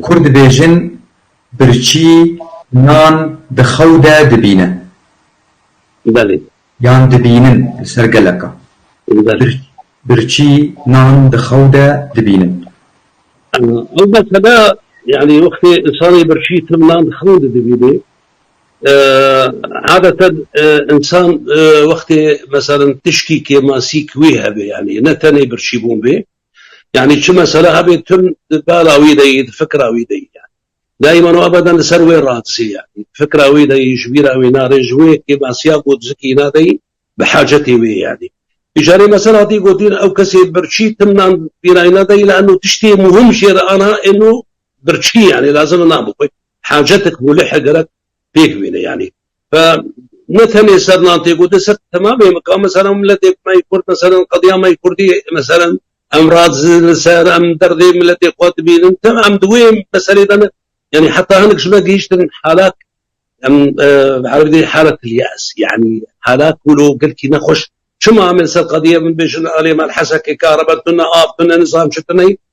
Kur dibêjin birçî nan di xew de dibîne yan dibînin li ser geleka birçî nan di xew de dibînin. Ew mesela yanî wextê însanê birçî tim nan di xew de dibînê adeten însan wextê meselin tişkî kêmasî ki wî hebe yanî ne tenê birçîbûn bê Yanî çi mesele hebe tim di bala wî de yî, di fikra wî de yî yanî. Daîman û ebeden li ser wê radizê yanî. Di fikra wî de yî, ji bîra wî nare, ji wê kêmasiya ku dizikî îna de yî, bi hacetê wê yanî. Bi carê mesel hatî gotin ew kesê birçî tim nan bîra îna de yî li eno tiştê muhim jê re ana eno birçî yanî lazim e nabixwe. Hacetik mûlihe gerek pêk bîne yanî ve ne tenê ser nan tê gotin ser temamê mikan mesela miletê me yê kurd mesela qediya me yê kurdî mesela em razî li ser em derdê miletê xwe dibînin tim em di wê meselê de ne yanî heta hinek ji me gihîştin halat em erebî dê halat yas yanî halat wilo girkî nexweş çima em li ser qediya min bêjin alê me hesekê kare me tune av tune nizam çi tune